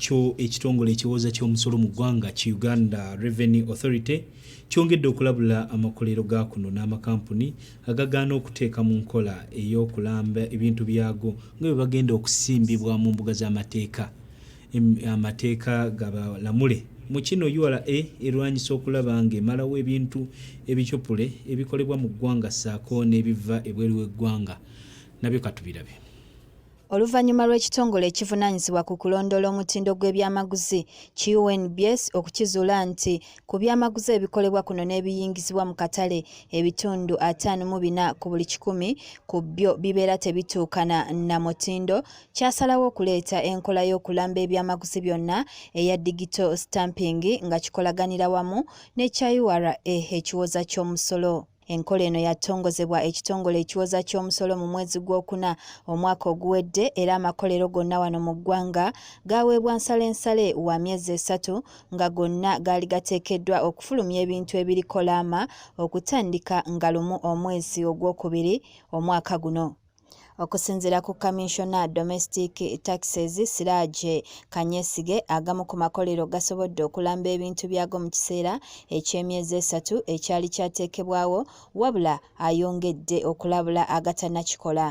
kyo ekitongole ekiwooza ky'omusolo mu ggwanga ki Uganda Revenue Authority kyongedde okulabula amakolero ga kuno n'amakampuni agagaana okuteeka mu nkola ey'okulamba ebintu byago nga bwe bagenda okusimbibwa mu mbuga z'amateeka amateeka gabalamule mu kino ura erwanyisa okulaba ng'emalawo ebintu ebicupule ebikolebwa mu ggwanga ssaako n'ebiva ebweru w'eggwanga nabyo katubirabe oluvannyuma lw'ekitongole ekivunaanyizibwa ku kulondoola omutindo gw'ebyamaguzi QNBS okukizuula nti ku byamaguzi ebikolebwa kuno n'ebiyingizibwa mu katale ebitundu ataano mu bina ku buli kikumi ku byo bibeera tebituukana na mutindo kyasalawo okuleeta enkola y'okulamba ebyamaguzi byonna eya digito stamping nga kikolaganira wamu n'ekya ura ekiwoza ky'omusolo Enkola eno yatongozebwa ekitongole ekiwoza ky'omusolo mu mwezi gw'okuna omwaka oguwedde era amakolero gonna wano mu ggwanga gaaweebwa nsalensale wa myezi esatu nga gonna gaali gateekeddwa okufulumya ebintu ebiriko laama okutandika nga lumu omwezi ogwokubiri omwaka guno. Okusinzira ku Kaminsona Domestic Taxes Siraje Kanyesige, agamu ku makolero gasobodde okulamba ebintu byago mu kiseera eky'emyezi esatu ekyali kyateekebwawo wabula ayongedde okulabula agatanakikola.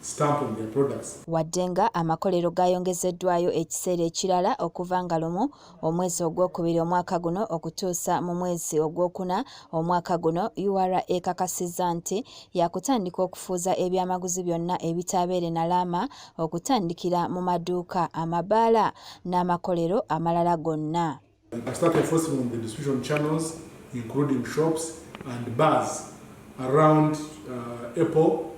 stamp on their products. Wadde nga amakolero gaayongezeddwayo ekiseera ekirala okuva nga lumu omwezi ogwokubiri omwaka guno okutuusa mu mwezi ogwokuna omwaka guno, URA ekakasizza nti yakutandika okufuuza ebyamaguzi byonna ebitaabeere na laama okutandikira mu maduuka, amabaala n'amakolero amalala gonna. I started enforcing on the distribution channels including shops and bars around uh, Apple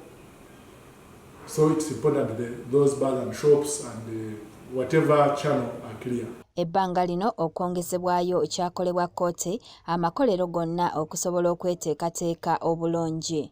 so it's important that those bars and shops and uh, whatever channel are clear. ebbanga lino okwongezebwayo kyakolebwa kkooti amakolero gonna okusobola okweteekateeka obulungi.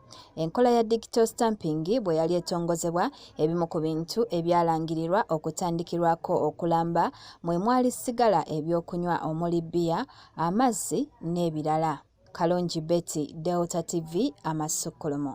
Enkola ya digital stamping bwe yali etongozebwa, ebimu ku bintu ebyalangirirwa okutandikirwako okulamba mwe mwali sigala ebyokunywa omuli bbiya, amazzi n'ebirala. Kalungi Betty, Delta TV, Amasukkulumu.